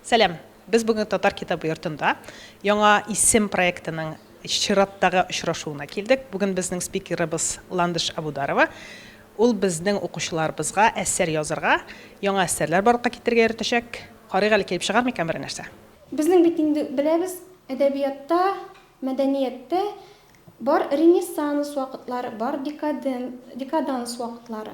Сәлам! Без бүген Татар китабы йортында Яңа исем проектының чираттагы очрашуына килдек. Бүген безнең спикерыбыз Ландыш Әбүдарова. Ул безнең укучыларыбызга әсәр язырга, яңа әсәрләр барлыкка китерергә өйрәтәчәк. Карыйк әле, килеп чыгар микән берәр нәрсә? Безнең бит инде беләбез, әдәбиятта, мәдәнияттә бар ренессанс вакытлары, бар декаден, декаданс вакытлары.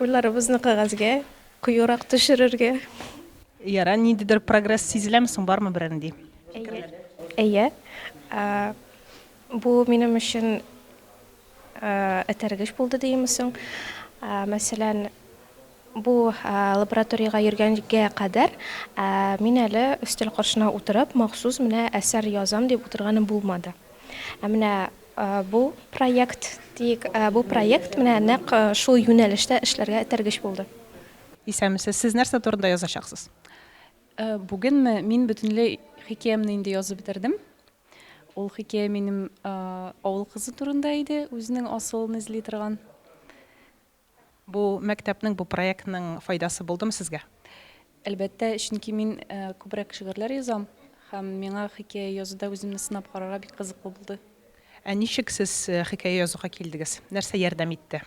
Уйларыбызны кәгазьгә куюрак төшерергә. Ярар, ниндидер прогресс сизеләме соң, бармы берәр нинди фикерләр? Әйе. Бу минем өчен этәргеч булды диеме соң. Мәсәлән. Бу лабораториягә йөргәнгә кадәр мин әле өстәл каршына утырып, махсус менә әсәр язам дип утырганым булмады. Ә менә бу проект, диик, бу проект менә нәкъ шул юнәлештә эшләргә этәргеч булды. Исәнмесез. Сез нәрсә турында язачаксыз? Бүгенме? Мин бөтенләй хикәямне инде язып бетердем. Ул хикәя минем авыл кызы турында иде, үзенең асылын эзли торган. Бу мәктәпнең, бу проектның файдасы булдымы сезгә? Әлбәттә, чөнки мин күбрәк шигырьләр язам һәм миңа хикәя язуда үземне сынап карарга бик кызыклы булды. Ә ничек сез хикәя язуга килдегез? Нәрсә ярдәм итте?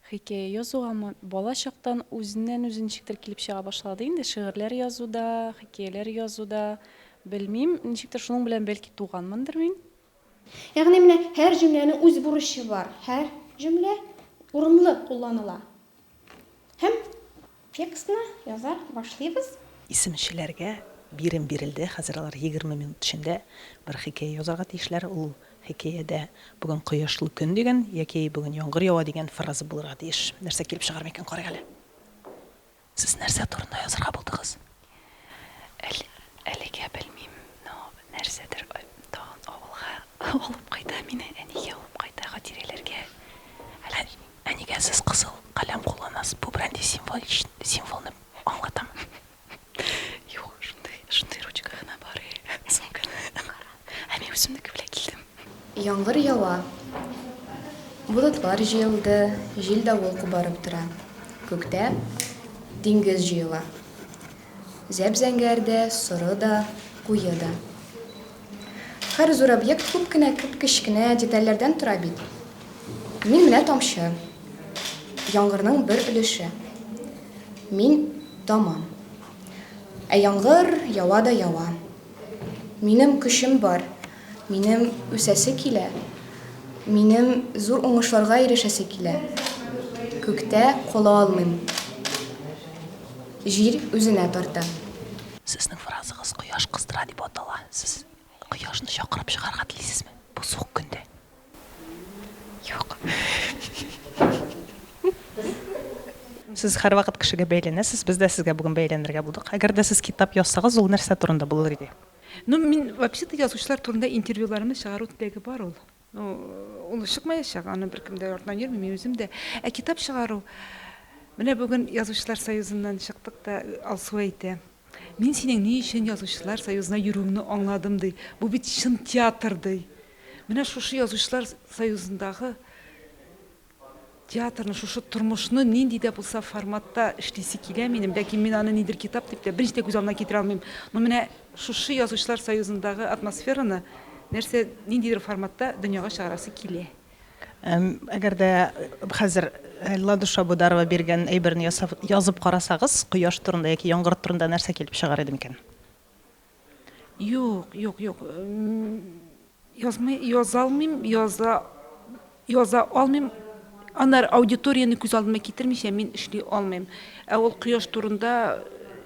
Хикәя язугамы? Бала чактан үзеннән-үзе ничектер килеп чыга башлады инде, шигырьләр язуда, хикәяләр язуда. Белмим, ничектер шуның белән бәлки туганмындыр мин. Ягъни менә һәр җөмләнең үз бурычы бар. Һәр җөмлә урынлы кулланыла. Һәм текстны яза башлыйбыз. Исемчеләргә бирем бирелде, хәзер алар егерме минут эчендә бер хикәя язарга тиешләр. Ул хикәядә Бүген кояшлы көн дигән яки Бүген яңгыр ява дигән фраза булырга тиеш. Нәрсә килеп чыгар микән, карыйк әле. Сез нәрсә турында язырга булдыгыз? Әле, әлегә белмим, но нәрсәдер тагын авылга алып кайта мине, әнигә алып кайта, хатирәләргә. Әллә ни. Әнигә сез кызыл каләм кулланасыз, бу бренди символич, символны аңлатамы? Юк, шундый, шундый ручка гына бар, сумканы. Кара. Ә мин үземнеке белән килдем. Яңгыр ява. Болытлар җыелды, җил-давыл кубарып тора. Күктә диңгез җыела. Зәп-зәңгәр дә, соры да, куе да. Һәр зур объект күп кенә кеп-кечкенә детальләрдән тора бит. Мин менә тамчы. Яңгырның бер өлеше. Мин тамам. Ә яңгыр ява да ява. Минем көчем бар, минем үсәсе килә, минем зур уңышларга ирешәсе килә. Күктә кала алмыйм. Җир үзенә тарта. Сезнең фразагыз Кояш кыздыра дип атала. Сез Кояшны чакырып чыгарга телисезме бу суык көндә? Юк. Сез һәрвакыт кешегә бәйләнәсез, без дә сезгә бүген бәйләнергә булдык. Әгәр дә сез китап язсагыз, ул нәрсә турында булыр иде? Ну, мин вообще-то язучылар турында интервьюларымны чыгару теләге бар ул. Ну, ул чыкмаячак, аны беркем дә артыннан йөрми, мин үзем дә. Ә китап чыгару, менә бүген Язучылар союзыннан чыктык та, Алсу әйтә. Мин синең ни өчен Язучылар союзына йөрүеңне аңладым, ди. Бу бит чын театр, ди. Менә шушы Язучылар союзындагы театрны, шушы тормышны нинди дә булса форматта эшлисе килә минем, ләкин мин аны нидер китап дип тә беренче дә күз алдына китерә алмыйм. Но менә шушы Язучылар союзындагы атмосфераны нәрсә, ниндидер форматта дөньяга чыгарасы килә. Әгәр дә хәзер Ладуша Бударова биргән әйберне ясап, язып карасагыз, кояш турында яки яңгыр турында нәрсә килеп чыгар иде микән? Юк, юк, юк. Язмый, яза алмыйм, яза, яза алмыйм. Анар аудиторияне күз алдыма китермичә мин эшли алмыйм. Ә ул кояш турында,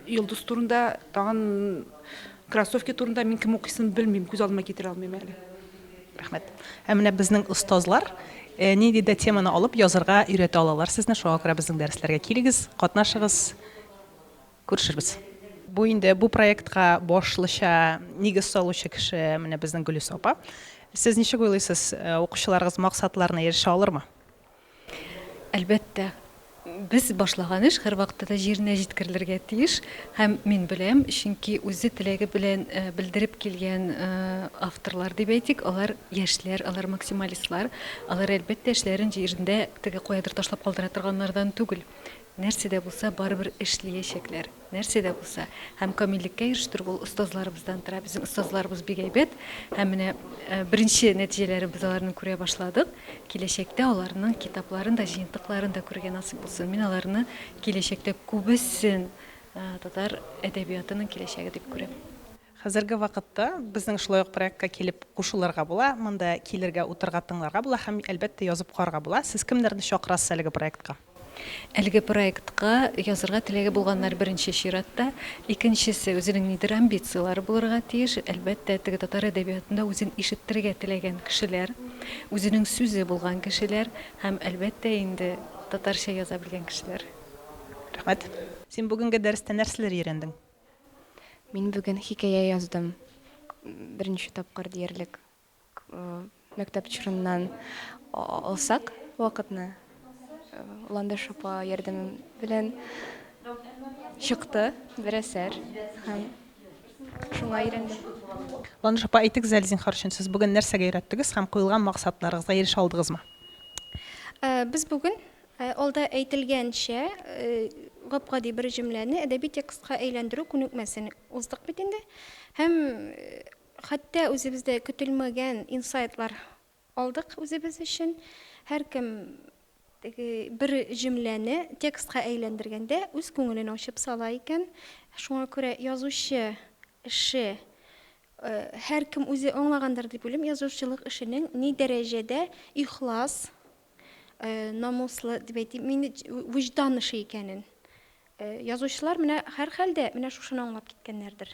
йолдыз турында, тагын кроссовки турында мин кем укыйсын белмим, күз алдыма китерә алмыйм әле. Рәхмәт. Ә менә безнең остазлар нинди дә теманы алып язырга өйрәтә алалар сезне, шуңа күрә безнең дәресләргә килегез, катнашыгыз, күрешербез. Бу инде бу проектка башлыча нигез салучы кеше менә безнең Гөлиса апа. Сез ничек уйлыйсыз, укучыларыгыз максатларына ирешә алырмы? Әлбәттә, без башлаган эш һәрвакытта да җиренә җиткерелергә тиеш һәм мин беләм, чөнки үзе теләге белән белдереп килгән авторлар дип әйтик, алар яшьләр, алар максималистлар, алар, әлбәттә, эшләрен җирендә теге каядыр ташлап калдыра торганнардан түгел. Нәрсә дә булса, барыбер эшлиячәкләр. Нәрсә дә булса. Һәм камиллеккә ирештерү ул остазларыбыздан тора. Безнең остазларыбыз бик әйбәт. Һәм менә беренче нәтиҗәләрен без аларның күрә башладык. Киләчәктә аларның китапларын да, җыентыкларын да күрергә насыйп булсын. Мин аларны киләчәктә күбесен татар әдәбиятының киләчәге дип күрәм. Хәзерге вакытта безнең шулай ук проектка килеп кушылырга була, монда килергә, утырырга, тыңларга була һәм, әлбәттә, язып карарга була. Сез кемнәрне чакырасыз әлеге проектка? Әлеге проектка язырга теләге булганнар беренче чиратта, икенчесе, үзенең нидер амбицияләре булырга тиеш, әлбәттә, теге татар әдәбиятында үзен ишеттерергә теләгән кешеләр, үзенең сүзе булган кешеләр һәм, әлбәттә инде, татарча яза белгән кешеләр. Рәхмәт. Син бүгенге дәрестә нәрсәләр өйрәндең? Мин бүген хикәя яздым. Беренче тапкыр диярлек. Мәктәп чорыннан алсак вакытны Ландыш апа ярдәме белән чыкты бер әсәр һәм шуңа өйрәндем. Ландыш апа, әйтегез әле, зинһар өчен, сез бүген нәрсәгә өйрәттегез һәм куелган максатларыгызга ирешә алдыгызмы? Без бүген Ә алда әйтелгәнчә, гап-гади бер җөмләне әдәби текстка әйләндерү күнекмәсен уздык бит инде. Һәм хәтта үзебездә көтелмәгән инсайтлар алдык үзебез өчен. Һәркем теге бер җөмләне текстка әйләндергәндә үз күңелен ачып сала икән. Шуңа күрә язучы эше, һәркем үзе аңлагандыр дип уйлыйм, язучылык эшенең ни дәрәҗәдә ихлас, намуслы дип әйтим, мин вөҗдан эше икәнен. Язучылар менә һәрхәлдә менә шушыны аңлап киткәннәрдер.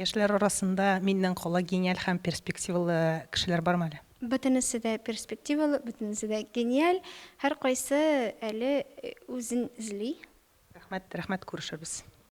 Яшьләр арасында миннән кала гениаль һәм перспективалы кешеләр бармы әле? Бөтенесе дә перспективалы, бөтенесе дә гениаль, һәркайсы әле үзен эзли. Рәхмәт, рәхмәт, күрешербез.